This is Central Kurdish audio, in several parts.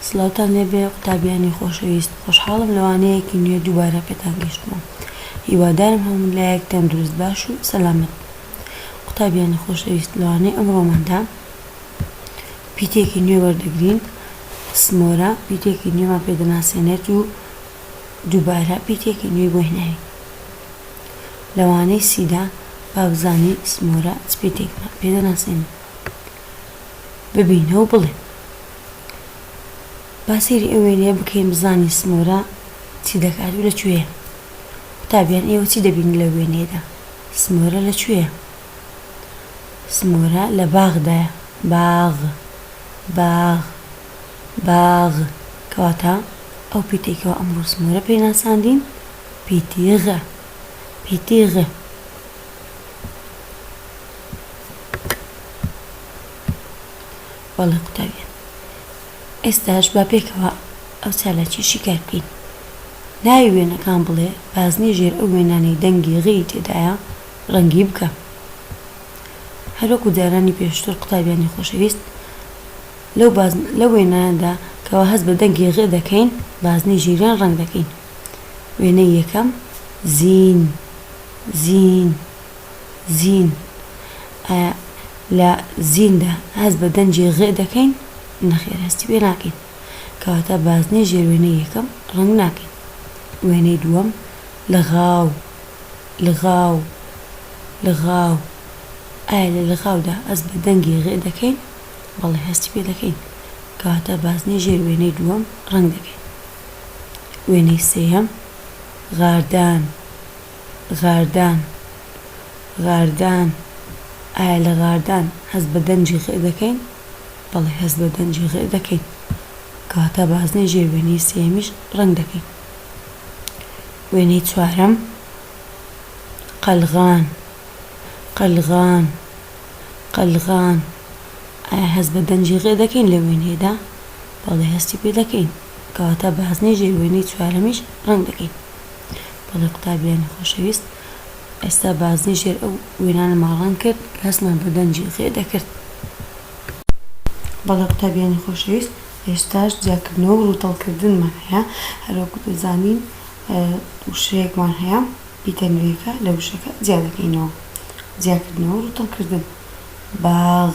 سڵاوتان لێبێ قوتابیانی خۆشەویست خۆشحاڵم لەوانەیەکی نوێ دووبارە پێتان گەیشتمە هیوادارم هەموو لایەک تەندروست باش و سەلامەت بن قوتابیانی خۆشەویست لەوانەی ئەمڕۆماندا پیتێکی نوێ وەردەگرین سمۆرە پیتێکی نوێمان پێ دەناسێنێت و دووبارە پیتێکی نوێی بۆ هێناین لەوانەی سیدا با بزانین سمۆرە چ پیتێکمان پێ دەناسێنێت. ببینە و بڵێ. با سەیری ئەو وێنەیە بکەین بزانین سمۆرە چی دەکات و لە کوێیە. قوتابیان ئێوە چی دەبینن لەو وێنەیەدا؟ سمۆرە لە کوێیە؟ سمۆرە لە باغدایە. باغ. باغ. باغ. کەواتە ئەو پیتەی کەوا ئەمڕۆ سمۆرە پێی ناساندین پیتی غە. پیتی غە. بەڵێ قوتابیان ئێستاش با پێکەوە ئەو چالاکی شیکار بکەین ناوی وێنەکان بڵێ بازنەی ژێر ئەو وێنانەی دەنگی غی تێدایە ڕەنگی بکە هەروەکو جارانی پێشتر قوتابیانی خۆشەویست لەو وێناندا کەەوە هەست بە دەنگی غێ دەکەین بازنەی ژیریان ڕەنگ دەکەین وێنەی یەکەم، زین، زین، زین. ئایا لە زیندا هەست بە دەنگی غ دەکەین؟ نەخێر هەستی پێ ناکەین. کەواتە بازنەی ژێر وێنەی یەکەم ڕەنگ ناکەین. وێنەی دووەم، لغاو، لغاو، لغاو. ئایا لە لغاودا هەست بە دەنگی غ دەکەین؟ بەڵێ هەستی پێ دەکەین. کەواتە بازنەی ژێر وێنەی دووەم ڕەنگ دەکەین. وێنەی سێیەم، غاردان، غاردان، غاردان، ئایا لە غاردان هەست بە دەنگی غئ دەکەین؟ بەڵێ هەست بە دەنگی غئ دەکەین. کەواتە بازنەی ژێر وێنەی سێیەمیش ڕەنگ دەکەین. وێنەی چوارەم، قەلغان، قەلغان، قەلغان، ئایا هەست بە دەنگی غئ دەکەین لە وێنەیەدا؟ بەڵێ هەستی پێ دەکەین کەواتە بازنەی ژێر وێنەی چوارەمیش ڕەنگ دەکەین بەڵێ قوتابیانی خۆشەویست ئێستا بازنەی ژێر ئەو وێنانەمان ڕەنگ کرد کە هەستمان بە دەنگی غێ دەکرد بەڵێ قوتابیانی خۆشەویست هێشتاش جیاکردنەوە و ڕووتەڵکردنمان هەیە هەروەکو دەزانین وشەیەکمان هەیە پیتە نوێیەکە لە وشەکە جیا دەکەینەوە جیاکردنەوە و ڕووتەڵکردن باغ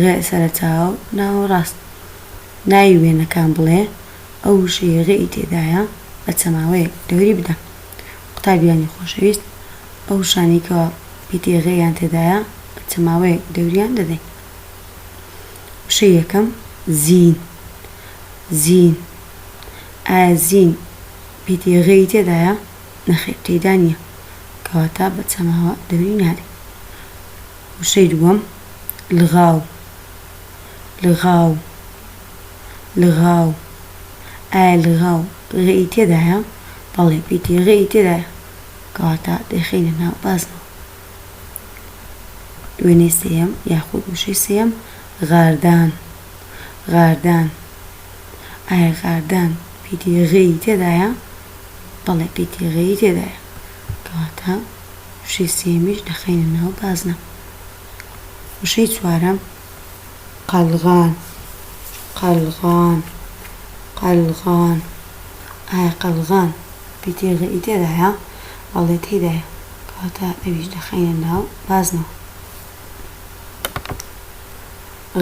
غ سەرەتا و ناوەڕاست ناوی وێنەکان بڵێ ئەو وشەی غ ی تێدایە بە چەماوەیەک دەوری بدە. قوتابیانی خۆشەویست ئەو وشانەی کەوا پیتی غ یان تێدایە بە چەماوەیەک دەوریان دەدەین. وشەی یەکەم، زین زین ئایا زین پیتی غ ی تێدایە؟ نەخێر تێیدا نییە کەواتە بە چەماوە دەوری نادەین. وشەی دووەم، لغاو، لغاو، لغاو، ئایا لغاو غ ی تێدایە؟ بەڵێ پیتی غ ی تێدایە، کەواتە دەیخەینە ناو بازنەوە. وێنەی سێیەم یاخود وشەی سێیەم، غاردان، غاردان، ئایا غاردان پیتی غ ی تێدایە؟ بەڵێ پیتی غ ی تێدایە. کەواتە وشەی سێیەمیش دەخەینە ناو بازنە. وشەی چوارەم، قەلغان، قەلغان، قەلغان، ئایا قەلغان پیتێ غەیی تێدایە؟ بەڵێ تێیدایە، کەواتە ئەویش دەخەینە ناو بازنەوە.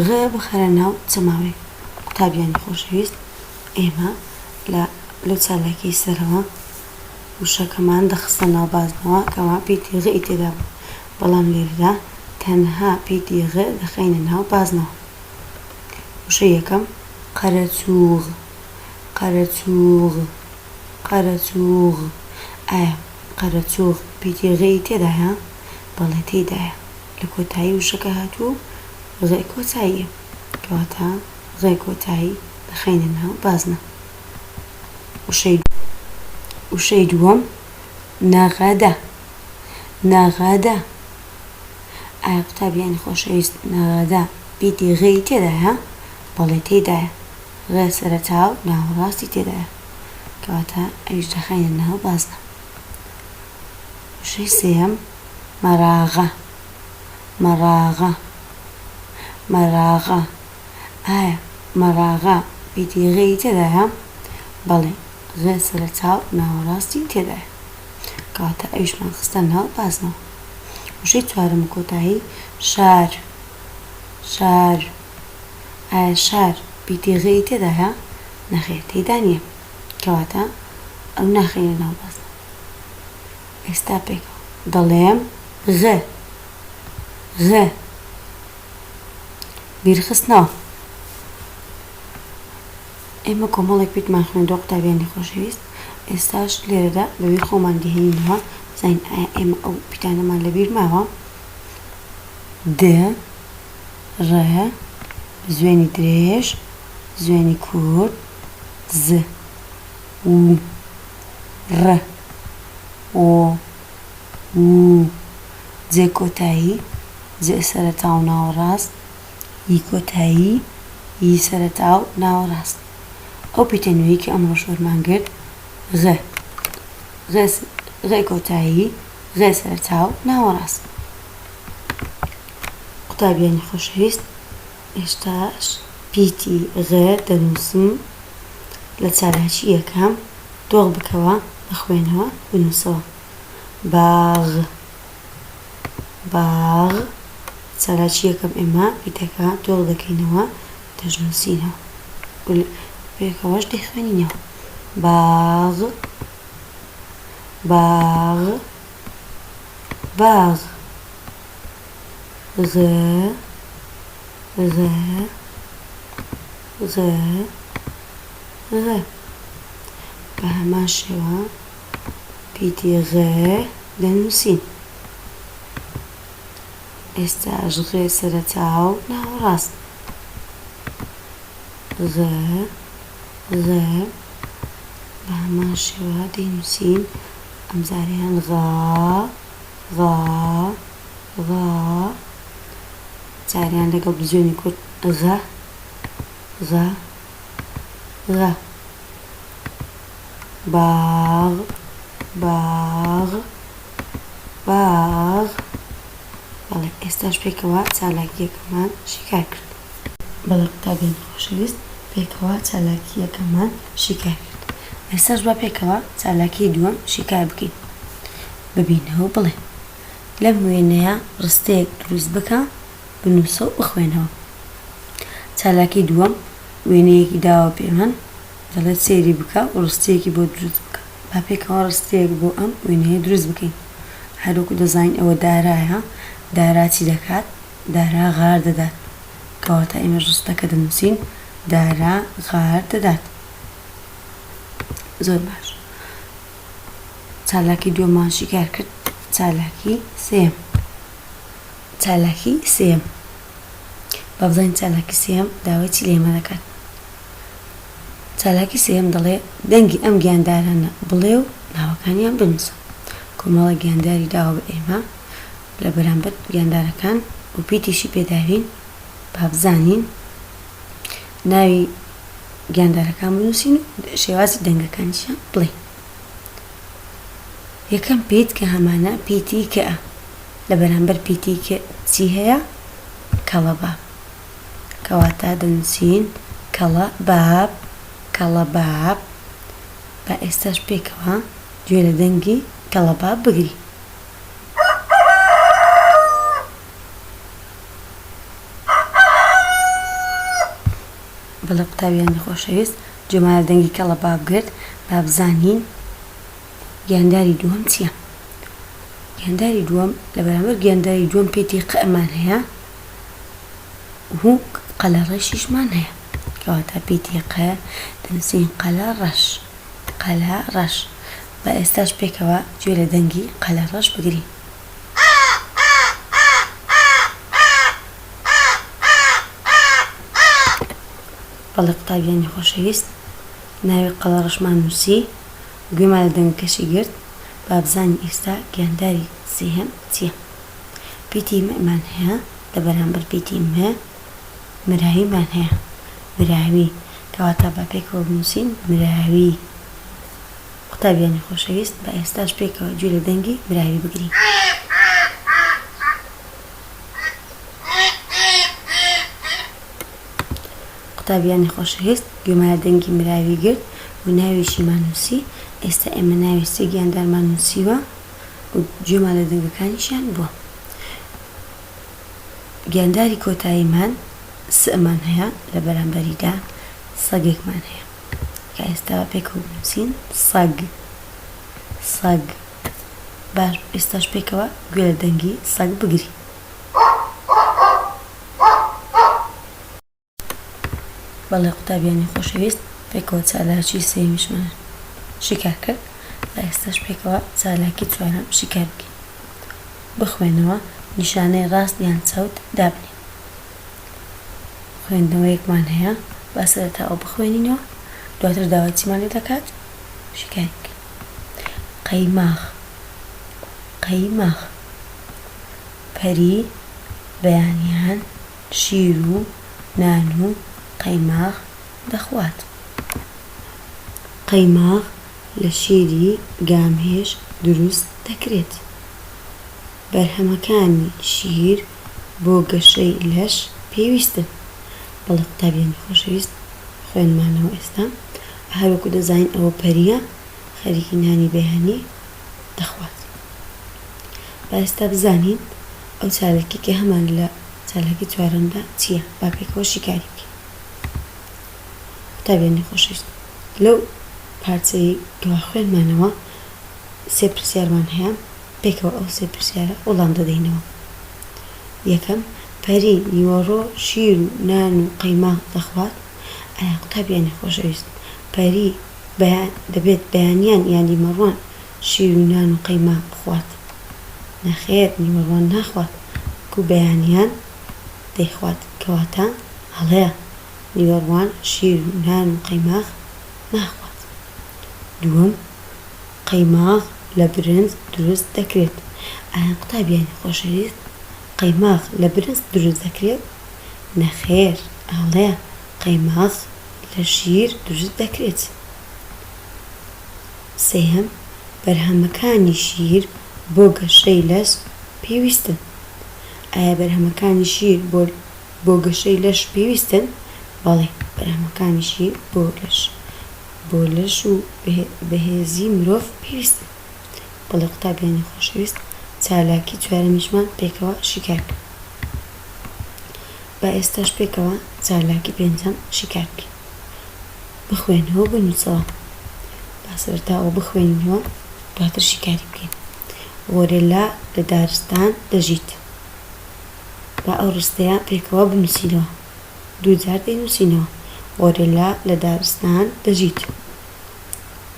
غ بخەرە ناو چەماوەی قوتابیانی خۆشەویست، ئێمە لە لەو چالاکیەی سەرەوە وشەکەمان دەخستە ناو بازنەوە کەوا پی تی غ ی تێدا بوو، بەڵام لێرەدا تەنها پی تی غ دەخەینە ناو بازنەوە. وشەی یەکەم، قەرەچووغ، قەرەچووغ، قەرەچووغ، ئایا قەرەچووغ پی تی غ ی تێدایە؟ بەڵێ تێیدایە، لە کۆتایی وشەکە هاتوو غ کۆتاییە، کەواتە غ کۆتایی دەخەینە ناو بازنە. وشەی وشەی دووەم نەغەدە نەغەدە ئایا قوتابیانی خۆشەویست نەغەدە ئیدی غەی تێدایە بەڵێ تێدایە غە سەرەتا و ناوەڕاستی تێدایە کەواتە ئەویش دەخەینە ناو بازنە وشەی سێەم مەراغە مەراغە مەراغە ئایا مەراغە ئیدی غێی تێدایە؟ بەڵێ غێ سەرەتاو ناوەڕاستی تێدایە کەواتە ئەویشمان خستە ناو بازنەوە. وشەی چوارەم و کۆتایی شار شار ئایا شار ئیدی غێی تێدایە؟ نەخێر تێیدا نیە کەواتە ئەو ناخەینە ناو بازنەوە. ئێستا پێکەوە دەڵێم غ غ. بیرخستنەوە. ئێمە کۆمەڵێک پیتمان خوێندوە قوتابیانی خۆشەویست، ئێستاش لێرەدا بەوی خۆمان دەهێنینەوە بزانین ئایا ئێمە ئەو پیتانەمان لەبیر ماوە؟ د ڕ زوێنی درێژ زوێنی کورت ز و ڕ و وو جێ کۆتایی، جێ سەرەتا و ناوەڕاست، ی کۆتایی، ی سەرەتا و ناوەڕاست. ئەو پیتە نوێی کە ئەمڕۆ شۆرمان گرت، غ، غ، غ کۆتایی، غ سەرەتا و ناوەڕاست. قوتابیانی خۆشەویست، ئێستاش پیتی غە دەنووسم لە چالاکی یەکەم دۆخ بکەوە بخوێنەوە بنووسەوە باغ باغ چالاکی یەکەم ئێمە پیتەکە دۆخ دەکەینەوە دەشنووسینەوە ول پێکەوەش دەیخوێنینەوە باغ باغ باغ زغزغزغزغ. بە هەمان شێوە پیتی غ دەنووسین. ئێستاش غ سەرەتا و ناوەڕاست. غ غ بە هەمان شێوە دەینووسین، ئەمجارەیان غا. غا غا جاریان لەگەڵ بزوێنی کورت غە غە غە باغ باغ باغ بەڵێ ئێستاش پێکەوە چالاکیەکەمان شیکار کرد بەڵێ قوتابیانی خۆشەویست پێکەوە چالاکیەکەمان شیکار کرد ئێستاش با پێکەوە چالاکی دووەم شیکار بکەین. ببینەوەو بڵێن. لەم وێنەیە ڕستەیەک دروست بکە، بنووسەو بخوێنەوە. چالاکی دووەم، وێنەیەکی داوە پێ من، دەڵێت سەیری بکە و ڕستەیەکی بۆ دروست بکە. با پێکەوە ڕستەیەک بۆ ئەم وێنەیە دروست بکەین. هەروەکو دەزانین ئەوە دارایە، دارا چی دەکات؟ دارا غار دەدات. کەواتە ئێمەش ڕستەکە دەنووسین، دارا غار دەدات. زۆر باش. چالاکی دووەمان شیکار کرد چالاکی سێم چالاکی سێم بابزانین چالاکی سێم داوای چی لێمە دەکات چالاکی سێم دەڵێ دەنگی ئەم گیاندارانە بڵێ و ناوەکانیان بنووسە کۆمەڵە گیانداری داوە بە ئێمە لە بەرامبەر گیاندارەکان و پیتیشی پێداوین بابزانین ناوی گیاندارەکان بنووسین و شێوازی دەنگەکانیشیان بڵێین یەکەم پیت کە هەمانە پیتی کە لە بەرامبەر پیتی کە چی هەیە کەڵەبا کەواتە دەنووسین کەڵە باب کەڵە باب با ئێستاش پێکەوە گوێ لە دەنگی کەڵەبا بگری بەڵێ قوتابیانی خۆشەویست، جەمالە دەنگی کەڵە باب گرت، با بزانین گیانداری دووەم چیە؟ گیانداری دووەم لە بەرامبەر گیانداری دووەم پیتی قئمان هەیە و قەلە ڕەشیشمان هەیە کەواتە پیتی ق دەنووسین قەلە ڕەش قەلە ڕەش با ئێستاش پێکەوە گوێ لە دەنگی قەلە ڕەش بگرین. بەڵێ قوتابیانی خۆشەویست. ناوی قەڵەڕەشمان نووسی، گوێمان لە دەنگەکەشی گرت، با بزانین ئێستا گیانداری سێهەم چییە. پیتی م مان هەیە، لە بەرامبەر پیتی م مراویمان هەیە، مراوی، کەواتە با پێکەوە بنووسین، مراوی. قوتابیانی خۆشەویست با ئێستاش پێکەوە گوێ لە دەنگی براوی بگرین. قوتابیانی خۆشەویست گوێمان لە دەنگی مراوی گرت و ناوێکیمان نووسی، ئێستا ئێمە ناوی سێ گیاندارمان نووسیوە و گوێمان لە دەنگەکانیشیان بووە. گیانداری کۆتاییمان سئمان هەیە لە بەرامبەریدا سەگێکمان هەیە. کە ئێستا پێکەوە بنووسین سەگ سەگ باش بوو ئێستاش پێکەوە گوێ لە دەنگی سەگ بگرین. بەڵێ قوتابیانی خۆشەویست پێکەوە چالاکی سێیەمیشمان شیکار کرد و ئێستاش پێکەوە چالاکی چوارەم شیکار بکەین بخوێنەوە نیشانەی ڕاست یان چەوت دابنێ. خوێندنەوەیەکمان هەیە با سەرەتا ئەو بخوێنینەوە دواتر داوای چیمان لێ دەکات شیکاری بکەین قەیماغ قەیماغ پەری بەیانیان شیر و نان و قەیماغ دەخوات قەیماغ لە شیری گامێش دروست دەکرێت بەرهەمەکانی شیر بۆ گەشەی لەش پێویستن بەڵێ قوتابیانی خۆشەویست خوێنمانەوە ئێستا هەروەکو دەزانین ئەوە پەریە خەریکی نانی بەیانی دەخوات با ئێستا بزانین ئەو چالکی کە هەمان لە چالکی چوارەمدا چییە با پێکەوە شیکاری بکەین قوتابیانی خۆشەویست لەو پارچەی کەوا خوێنمانەوە سێ پرسیارمان هەیە پێکەوە ئەو سێ پرسیارە وڵام دەدەینەوە، یەکەم، پەری نیوەڕۆ شیر و نان و قەیماغ دەخوات؟ ئایا قوتابیانی خۆشەویست، پەری بەیان دەبێت بەیانیان یان دیمەڕوان شیر و نان و قەیماغ بخوات؟ نەخێر نیوەڕوان ناخوات، بەڵکو بەیانیان دەیخوات، کەواتە هەڵەیە، نیوەڕوان شیر و نان و قەیماغ ناخوات. دووەم. قەیماغ لە برنج دروست دەکرێت. ئایان قوتابیانی خۆشەویست، قەیماغ لە برنج دروست دەکرێت؟ نەخێر، ئەڵێ، قەیماغ لە شیر دروست دەکرێت. سێیەم، بەرهەمەکانی شیر بۆ گەشەی لەش پێویستن. ئایا بەرهەمەکانی شیر بۆ بۆ گەشەی لەش پێویستن؟ بەڵێ، بەرهەمەکانی شیر بۆ لەش. بۆ لەش و بەهێزی مرۆڤ پێویستە. بەڵێ قوتابیانی خۆشەویست، چالاکی چوارەمیشمان پێکەوە شیکار بکەین. با ئێستاش پێکەوە چالاکی پێنجەم شیکار بکەین. بخوێنەوە و بنووسەوە. با سەرەتا ئەوە بخوێنین و دواتر شیکاری بکەین. غۆرێلا لە دارستان دەژیت. با ئەو ڕستەیە پێکەوە بنووسینەوە. دووجار دەینووسینەوە. غۆرێلا لە دارستان دەژیت.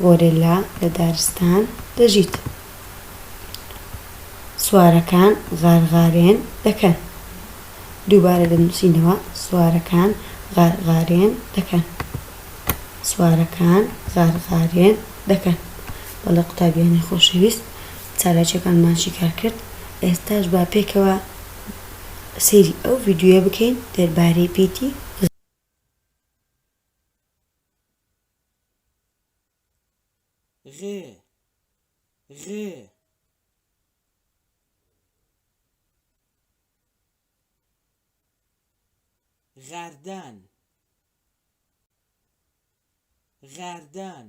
غۆرێلا لە دارستان دەژیت. سوارەکان غارغارێن دەکەن. دووبارە دەنووسینەوە. سوارەکان غارغارێن دەکەن. سوارەکان غارغارێن دەکەن. بەڵێ قوتابیانی خۆشەویست، چالاکییەکانمان شیکار کرد. ئێستاش با پێکەوە سەیری ئەو ڤیدیۆیە بکەین دەربارەی پیتی غێ غێ غاردان غاردان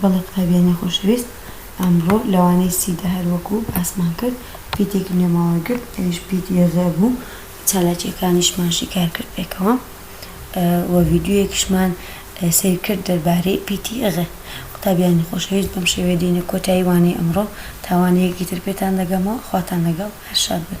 بەڵێ قوتابیانی خۆشەویست، ئەمڕۆ لەوانەی سی دە هەر وەکو باسمان کرد پیتێکی نوێمان وەرگرت ئەویش پیتی یۆزە بوو، چالاکیەکانیشمان شیکار کرد پێکەوە و ڤیدیۆیەکیشمان سەیر کرد دەربارەی پیتی یۆزە. قوتابیانی خۆشەویست بەم شێوەیە دێینە کۆتایی وانەی ئەمڕۆ، تا وانەیەکی تر پێتان دەگەمەوە خواتان لەگەڵ هەر شاد بن.